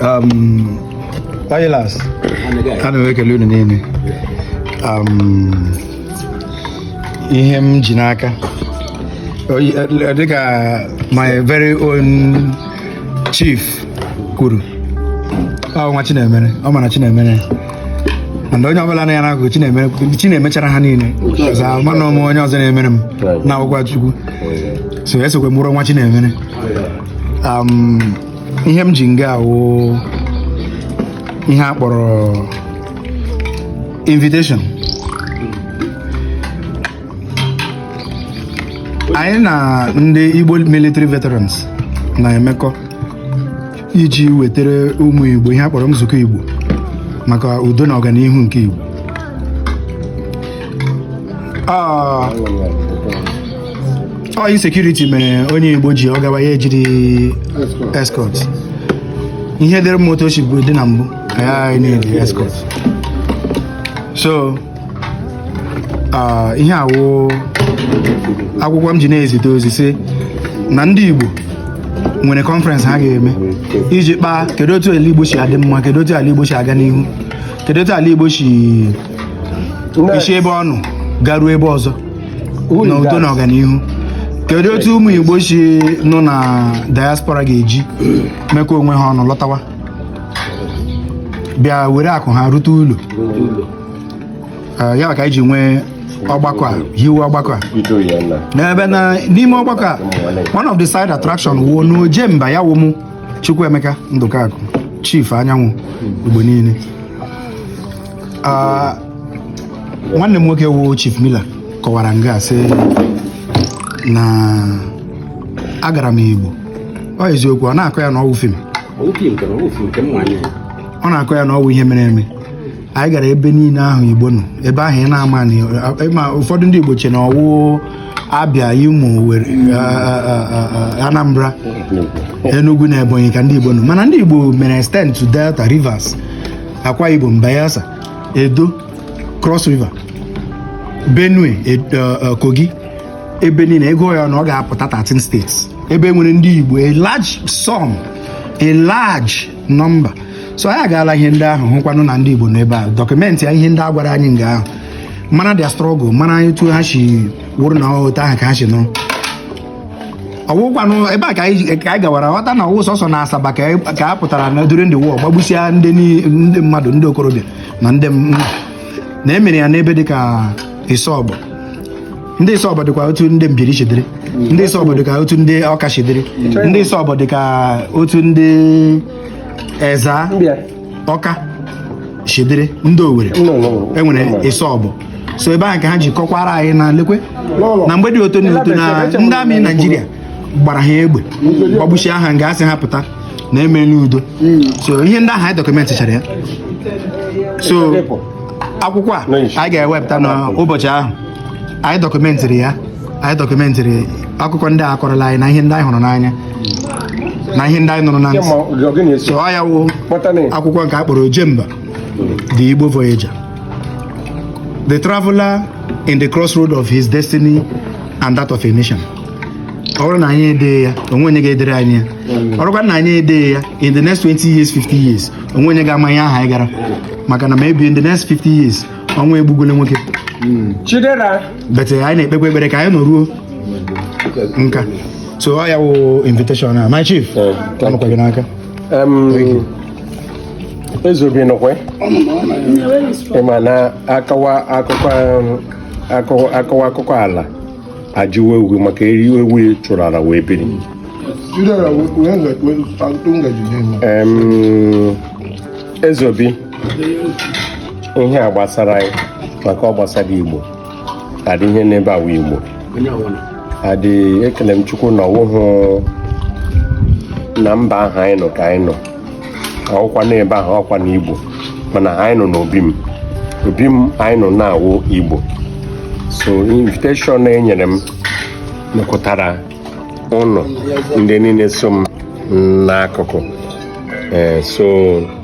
um, Oilas ana m ekele unu niile um, ihe m ji n'aka eh, dịka my very own chief kwuru ọ nwa Chinemere ọ mara Chinemere and onye ọbụla na ya na-agụ chi na-emechara ha niile ọzọ mana ọ mụ onye ọzọ na-emere m na ọwụkwa Chukwu so esokwe m wụrụ nwa Chinemere um, ihe m ji nga a wụ ihe a kpọrọ invitation anyị na ndị Igbo military veterans na-emekọ iji wetara ụmụ Igbo ihe a kpọrọ nzukọ Igbo maka udo na ọganihu nke Igbo ah, ọ insecurity mere onye Igbo ji ọ gawa ya ejiri escort ihe dịrị moto o bụ dị na mbụ anyị na-eji escort so ah, ihe a wụ akwụkwọ m ji na-ezite ozi sị na ndị Igbo nwere conference ha ga-eme iji kpaa kedu otu ala Igbo si adị mma kedu otu ala Igbo si aga n'ihu kedu otu ala Igbo si esi ebe ọ nọ garuo ebe ọzọ na udo na ọganihu kedu otu ụmụ Igbo si nọ na diaspora ga-eji mekọ onwe ha ọnụ lọtawa bịa were akụ ha rute ụlọ ah, ya ka anyị ji nwee ọgbakọ a hiwe ọgbakọ a n'ebe na n'ime ọgbakọ a one of the side attraction wụ na Ojemba ya wụ mụ Chukwuemeka Ndụkakụ chief anyanwụ Igbo niile ah, nwanne m nwoke wụ chief Miller kọwara nga sị na agara m Igbo ọ eziokwu ọ na-akọ ya na ọwụ film ọ na-akọ ya na ọwụ ihe mere eme anyị gara ebe niile ahụ igbo nọ ebe ahụ ị na-ama na ụfọdụ ndị igbo che na ọwụ abịa imo anambra enugu na ebonyi ka ndị igbo nọ mana ndị igbo mere extend to delta rivers akwa ibom bayelsa edo cross river benue Ed- eh, eh, kogi ebe niile ị gụọ ya ọnụ ọ ga-apụta 13 states ebe e nwere ndị igbo a large sum a large number so anyị agaala ihe ndị ahụ hụkwanụ na ndị Igbo n'ebe ahụ documentịa ihe ndị a gwara anyị nga ahụ mara their struggle mara etu ha si wụrụ na otu ahụ ka ha si nọrọ ọwụkwanụ ebe a ka anyị gawara ghọta na ọwụ sọsọ na Asaba ka a pụtara na during the war gbagbusia ndị mmadụ ndị okorobịa na ndị na e mere ya n'ebe dịka Isobo ndị isobo dịkwa otu ndị mbiri si dịrị ndị isobo dị ka otu ndị ọka si dịrị ndị isobo dị ka otu ndị eza ọka si dịrị ndị owere enwere isobo so ebe ahụ ka ha ji kọkwara anyị na lekwe na mgbe dị otu na otu na ndị amị naijiria gbara ha egbe gbagbusịa ha nga a sị ha pụta na emeela udo hmm. so ihe ndị ahụ anyị dọkụmentịchara ya so akwụkwọ a anyị ga-ewepụta n'ụbọchị ahụ anyị dọkụmentịrị ya anyị dọkụmentịrị akụkọ ndị a kọrọla anyị na ihe ndị anyị hụrụ n'anya na ihe ndị anyị nụrụ na ntị so ọ ya wụ akwụkwọ nke a kpọrọ ojemba the igbo voyager the traveler in the crossroad of his destiny and that of a mission ọ bụrụ na anyị edee ya o nwe onye ga-edere anyị ya ọ bụrụkwa na anyị edee ya in the next 20 years 50 years o nwe onye ga-ama ihe ahụ anyị gara maka na maybe in the next 50 years ọnwụ egbugole nwoke hmm. chidera but anyị na-ekpekwa ekpere ka anyị nọruo nka so ọ ya wụ invitation a my chief eh, ọ nọkwa gị n'aka ezeobi nọkwa ị ma na akọwa akụkọ akọwa akụkọ ala ajụwa egwu maka eri ewu chụrụ ala wee biri ezeobi ihe a gbasara anyị maka ọ gbasara igbo adị ihe n'ebe a wụ igbo adị ekele m chukwu na ọ wụhụ na mba ahụ anyị nọ ka anyị nọ ọkwa n'ebe ahụ ọkwa na igbo mana anyị nọ n'obi m obi m anyị nọ na-awụ igbo so invitation e nyere m mekọtara ụnụ ndị niile so m n'akụkụ eh, so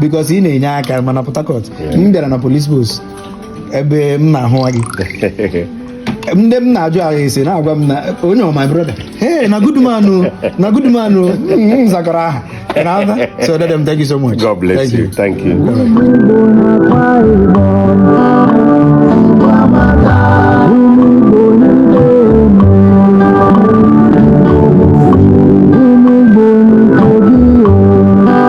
because ị na-enye aka ma na Port Harcourt m bịara na police post ebe m na-ahụ nwa gị ndị m na-ajụ ase na-agwa m na onye ọ my brother hey na good man o na good man o m zakọrọ aha Ị na-aza? so dede m thank you so much God bless Thank you. Thank you. Igbo